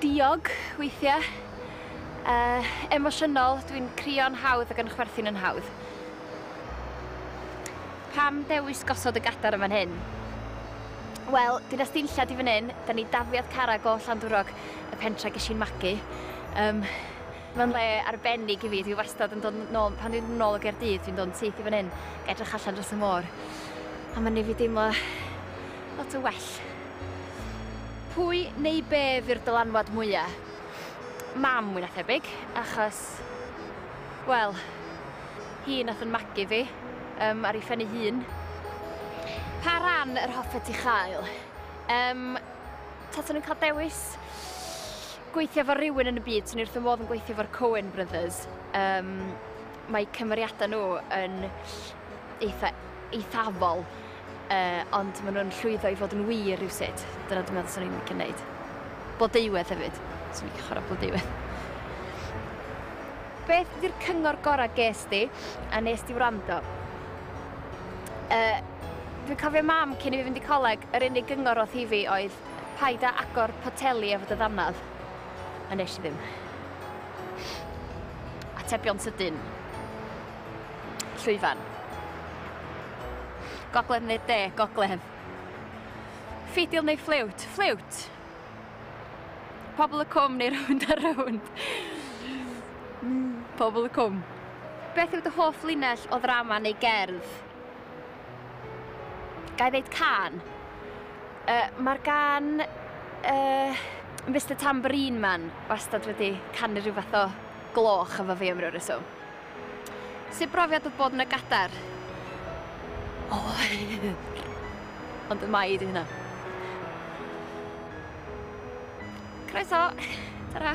Diog, weithiau. Yy, emosiynol, dwi'n crio'n hawdd ac yn chwerthin yn hawdd. Pam dewis gosod y gadar yn fan hyn? Wel, dyna stinllad i fan hyn, da ni dafliad cara gôl Llandwrog, y pentra ges i'n magu. Um, Mae'n le arbennig i fi, dwi wastad yn dod nôl, pan dwi'n dod nôl o Gaerdydd, dwi'n dod yn syth i fan hyn, gael edrych allan dros y môr. A mae'n ei fi deimlo lot o well. Pwy neu be fy'r dylanwad mwya? Mam mwy na thebyg, achos, wel, hi nath yn magu fi, um, ar ei phen ei hun. Pa ran yr hoffet ti chael? Um, taswn i'n cael dewis gweithio fo rhywun yn y byd, swn i'n wrth fy modd yn gweithio fo'r Coen Brothers. Um, mae cymeriadau nhw yn eitha eithafol. Yy, ond ma' nhw'n llwyddo i fod yn wir rywsut. Dyna dwi'n meddwl 'swn i'n licio neud. Blodeuwedd hefyd. 'Swn i'n licio chwarae Blodeuwedd. Beth ydy'r cyngor gorau ges di, a nes di wrando? Yy, dwi'n cofio mam cyn i fi fynd i coleg, yr unig gyngor o'th hi fi oedd paid â agor poteli efo dy ddannedd. A nes i ddim. Atebion sydyn. Llwyfan. Gogledd neu de, gogledd. Ffidil neu ffliwt, ffliwt. Pobl y cwm neu rownd a rownd. Pobl y cwm. Beth yw dy hoff linell o ddrama neu gerdd? Gai ddeud can? Uh, Mae'r gan uh, Mr Tambourine Man wastad wedi canu rhyw fath o gloch efo fi am ryw reswm. Sut brofiad oedd bod yn y Gadar? Oer! Ond y mai ydi hynna. Croeso! Ta-ra!